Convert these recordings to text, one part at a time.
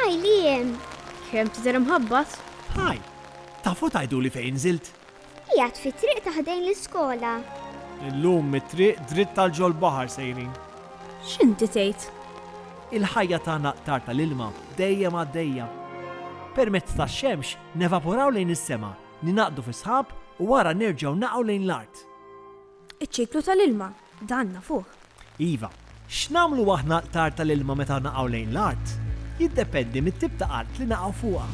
Hi, Liam. Kemm tidher imħabbat? Hi. Tafu tgħiduli fejn nżilt? Qiegħed fit-triq ta' ħdejn l-iskola. Illum mit-triq dritt għal ġol-baħar sejrin. X'inti tgħid? Il-ħajja tagħna qtar tal-ilma, dejjem għaddejja. Permezz tax-xemx nevaporaw lejn is-sema, ningħaqdu fi sħab u wara nerġgħu naqgħu lejn l-art. Iċ-ċiklu tal-ilma, dan nafuh. Iva, x'nagħmlu aħna altar tal-ilma meta naqgħu lejn l-art? Jiddependi mit-tip ta' art li naqgħu fuqha.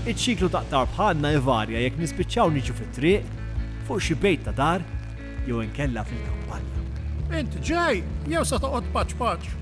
Iċ-ċiklu ta' qtar bħalna jvarja jekk nispiċċaw niġu fit-triq, fuq xi bejt ta' dar, jew inkella fil-kampanja. Int ġej jew se toqgħod paċ paċ?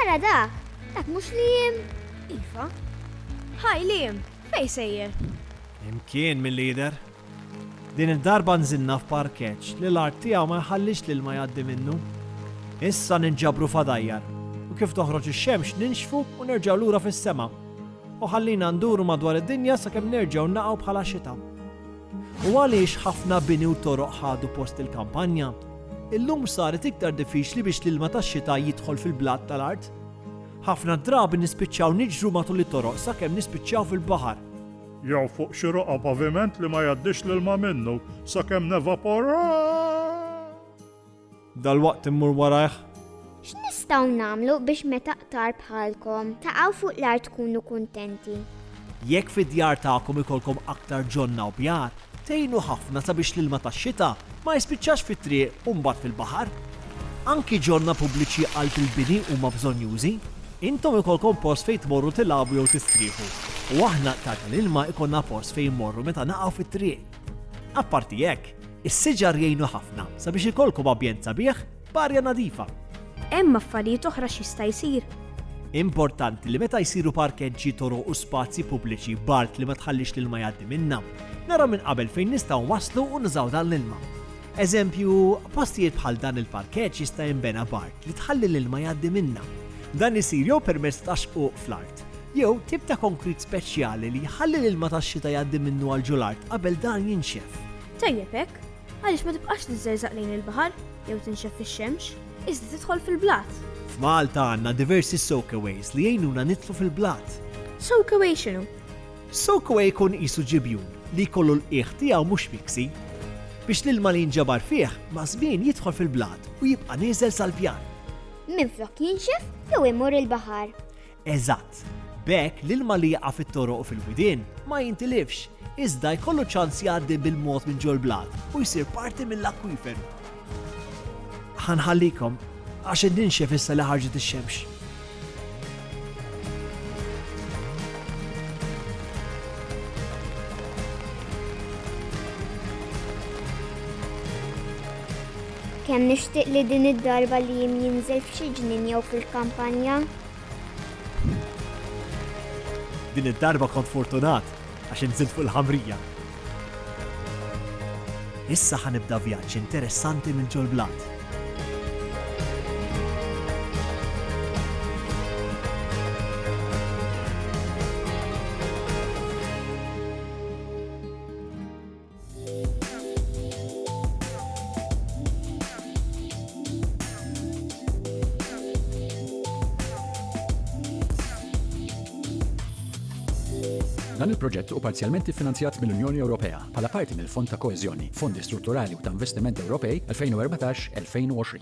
Ara dak, dak mhux Liam? Iva. Hi Liam, fejn sejjer? Imkien milli jidher. Din id-darba nżilna f'parkeġġ li l-art tiegħu ma jħallix l-ilma jgħaddi minnu. Issa ninġabru f'għadajjar u kif toħroġ ix-xemx ninxfu u nerġgħu lura fis-sema. U ħallina nduru madwar id-dinja sakemm nerġgħu naqgħu bħala xita. U għaliex ħafna bini u toroq ħadu post il-kampanja? Illum saret iktar diffiċli biex l-ilma tax-xita jidħol fil-blat tal-art. Ħafna drabi nispiċċaw niġru matul it-toroq sakemm nispiċċaw fil-baħar. Jew fuq xi roqgħa paviment li ma jgħaddix l-ilma minnu sakemm nevaporaw! Dalwaqt immur warajh. X'nistgħu nagħmlu biex meta qtar bħalkom taqgħu fuq l-art tkunu kuntenti? Jekk fid-djar tagħkom ikollkom aktar ġonna u bjar, tgħinu ħafna sabiex l-ilma tax-xita ma jispiċċax fit-triq u mbagħad fil-baħar. Anki ġonna pubbliċi qalb il-bini huma bżonnjużi. Intom ikollkom post fejn tmorru tilagħbu jew tistrieħu, u aħna qtar tal-ilma jkollna post fejn immorru meta naqgħu fit-triq. Apparti hekk, is-siġar jgħinu ħafna sabiex ikollkom ambjent sabiħ b'arja nadifa. Hemm affarijiet oħra x'jista' jsir? Importanti li meta jsiru parkeġġi, toroq u spazji pubbliċi b'art li ma tħallix l-ilma jgħaddi minnha, naraw minn qabel fejn nistgħu nwasslu u nużaw dan l-ilma. Eżempju, postijiet bħal dan il-parkeġġ jista' jinbena b'art li tħalli l-ilma jgħaddi minnha. Dan isir jew permezz ta' xquq fl-art, jew tip ta' konkrit speċjali li jħalli l-ilma tax-xita jgħaddi minnu għal ġol art qabel dan jinxef. Tajjeb hekk, għaliex ma tibqax tiżżerżaq lejn il-baħar jew tinxef fix-xemx, iżda tidħol fil-blat. F'Malta għandna diversi soakaways li jgħinuna nidħlu fil-blat. Soakaway x'inhu? Soakaway jkun qisu ġibjun li jkollu l-qiegħ tiegħu mhux fiksi biex l-ilma li jinġabar fih maż-żmien jidħol fil-blat u jibqa' nieżel sal-pjan. Minflok jinxef jew imur il-baħar. Eżatt. B'hekk, l-ilma li jaqa' fit-toroq u fil-widien ma jintilifx, iżda jkollu ċans jgħaddi bil-mod minn ġol-blat u jsir parti mill-akwiferu. Ħa nħallikom, għax qed ninxef issa li ħarġet ix-xemx. Kemm nixtieq li din id-darba li jien jinżel f'xi ġnien jew fil-kampanja. Din id-darba kont fortunat għax inżilt fuq il-ħamrija. Issa ħa nibda vjaġġ interessanti minn ġol-blat. Dan il-proġett u parzjalment iffinanzjat mill-Unjoni Ewropea bħala parti mill-Fond ta' Koeżjoni, Fondi Strutturali u ta' Investiment Ewropej 2014-2020.